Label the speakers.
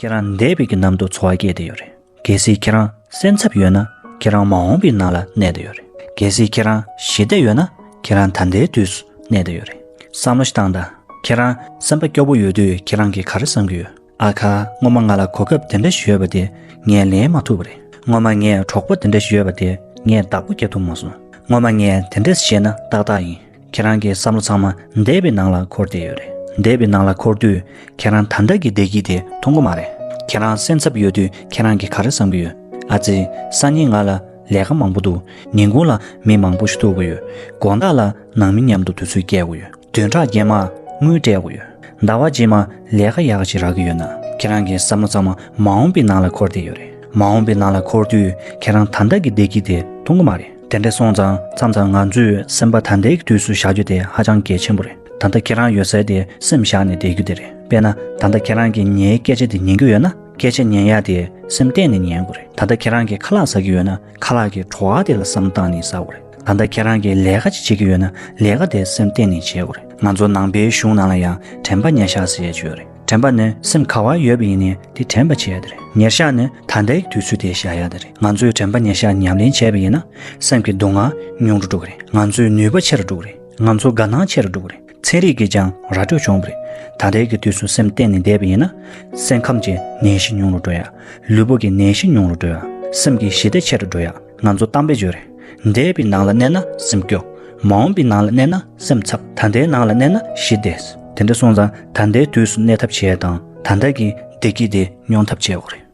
Speaker 1: ཁྱེད་རང་འདས་པའི་གི་ནམ་དུ་འཚོ་བ་སྐྱེལ་དུ་ཡོད་རེད་གལ་སྲིད་ཁྱེད་རང་སེམས་འཚབ་ཡོད་ན་ཁྱེད་རང་མ་འོངས་པའི་ནང་ལ་གནས་དུ་ཡོད་རེད་གལ་སྲིད་ཁྱེད་རང་ཞི་བདེ་ཡོད་ན་ཁྱེད་རང་ད་ལྟའི་དུས་སུ་གནས་དུ་ཡོད་རེད་བསམ་བློ་བཏང་དང་ཁྱེད་རང་སེམས་པ་སྐྱོ་པོ་ཡོད་དུས་ཁྱེད་རང་གི་ག་རེ་བསམ་གི་ཡོད་ཨ་ཁ་སྔོན་མ་ང་ལ་གོ་སྐབས་དེ་འདྲ་ཞིག་ཡོད་པ་དེ་ངས་ལེན་མ་ཐུབ་པ་རེད་སྔོན་མ་ངས་གྲོགས་པོ་དེ་འདྲ་ཞིག་ཡོད་པ་དེ་ངས་བདག་པོ་བསྐྱལ་ཐུབ་མ་སོང་སྔོན་མ་ངས་དེ་འདྲ་བྱས་ན་ཏག་ཏག་ཡིན། ཁྱེད་རང་གི་བསམ་བློ་ཚང་མ་འདས་པའི་ནང་ལ་འཁོར་བསྡད་ཡོད་རེད། འདས་པའི་ནང་ལ་འཁོར་དུས་ཁྱེད་རང་ད་ལྟ་གི་བདེ་སྐྱིད་དེ་མཐོང་གི་མ་རེད། ཁྱེད་རང་སེམས་འཚབ་ཡོད་དུས་ཁྱེད་རང་གིས་ག་རེ་བསམ་གྱི་ཡོད། ཨ་ཙི། སང་ཉིན་ང་ལ་ལས་ཀ་མང་པོ་འདུག་ཉིན་གུང་ལ་མི་མང་པོ་ཞིག་ཐུག་གི་ཡོད། དགོང་དག་ལ་ནང་མི་མཉམ་དུ་དུས་ཚོད་བསྐྱལ་དགོས་ཡོད། བདུན་ཕྲག་རྗེས་མ་དངུལ་སྤྲད་དགོས་ཡོད། ཟླ་བ་རྗེས་མ་ལས་ཀ་ཡག་ཞིག་རག་གི་ཡོད་ན། ཁྱེད་རང་གི་བསམ་བློ་ཚང་མ་མ་འོངས་པའི་ནང་ལ་འཁོར་བསྡད་ཡོད་རེད། མ་འོངས་པའི་ནང་ལ་འཁོར་དུས་ཁྱེད་རང་ད་ལྟ་གི་བདེ་སྐྱིད་དེ་མཐོང་གི་མ་རེད། དེ་འདྲ་སོང་ཙང་མཚམས་ཙང་ང་ཚོས་སེམས་པ་ད་ལྟའི་དུས་སུ་བཞག་རྒྱུ་དེ་ཧ་ཅང་གལ་ཆེན་པོ་རེད་ད་ལྟ་ཁྱེད་རང་ཡོད་སའི་དེ་སེམས་བཞག་ནས་བསྡད་རྒྱུ་དེ་རེད་དཔེར་ན་ད་ལྟ་ཁྱེད་རང་གིས་ངའི་སྐད་ཆ་དེ་ཉན་གྱི་ཡོད་ན་སྐད་ཆ་ཉན་ཡ་དེ་སེམས་གཏད་ནས་ཉན་དགོས་རེད་ད་ལྟ་ཁྱེད་རང་གིས་ཁ་ལག་ཟ་གི་ཡོད་ན་ཁ་ལག་གི་བྲོ་བ་དེ་ལ་བསམ་བཏང་ནས་ཟ་དགོས་རེད་ད་ལྟ་ཁྱེད་རང་གིས་ལས་ཀ་ཅིག་བྱེད་ཀྱི་ཡོད་ན་ལས་ཀ་དེ་སེམས་གཏད་ནས་བྱེད་དགོས་རེད་ང་ཚོ་ནང་པའི་གཞུང་ནང་ལ་ཡང་དྲན་པ་ཉེ་ཤག་ཟེར་བྱས་ཡོད་རེད། དྲན་པ་ནི་སེམས་ག་བ་ཡོད་པ་ཡིན་ནས་དེ་དྲན་པ་བྱེད་ཡ་ད་རེད་ཉེར་བཞག་ནི་ད་ལྟའི་དུས་ཚོད་དེ་བཞག་ཡ་ད་རེད་ང་ཚོས་དྲན་པ་ཉེར་བཞག་ཉམས་ལེན་བྱས་པ་ཡིན་ན་སེམས་ཀྱི་སྡུག་བསྔལ་ཉུང་རུ་འགྲོ་གི་རེད་ང་ཚོའི་ནུས་པ་ཆེ་རུ་འགྲོ་གི་རེད་ང་ཚོ་དགའ་སྣང་ཆེ་རུ་འགྲོ་གི་རེད་ཚན་རིག་གིས་ཀྱང་ར་སྤྲོད་བྱུང་བ་རེད་ད་ལྟའི་གི་དུས་སུ་སེམས་གཏན་ནས་བསྡད་པ་ཡིན་ན་སེམས་ཁམས་ཀྱི་ནད་གཞི་ཉུང་རུ་འགྲོ་ཡ་ལུས་པོ་གི་ནད་གཞི་ཉུང་རུ་འགྲོ་ཡ་སེམས་ཀྱི་ཞི་བདེ་ཆེ་རུ་འགྲོ་ཡ། ང་ཚོ་བཏང་བས་བརྗོད། འདས་པའི་ནང་ལ་གནས་ན་སེམས་སྐྱོ། མ་འོངས་པའི་ནང་ལ་གནས་ན་སེམས་འཚབ། ད་ལྟའི་ནང་ལ་གནས་ན་ཞི་བདེ། དེ་འདྲ་སོང་ཙང་ད་ལྟའི་དུས་སུ་གནས་ཐབས་བྱས་དང་ད་ལྟ་གི་བདེ་སྐྱིད་དེ་མྱོང་ཐབས་བྱས་འོག་རེད།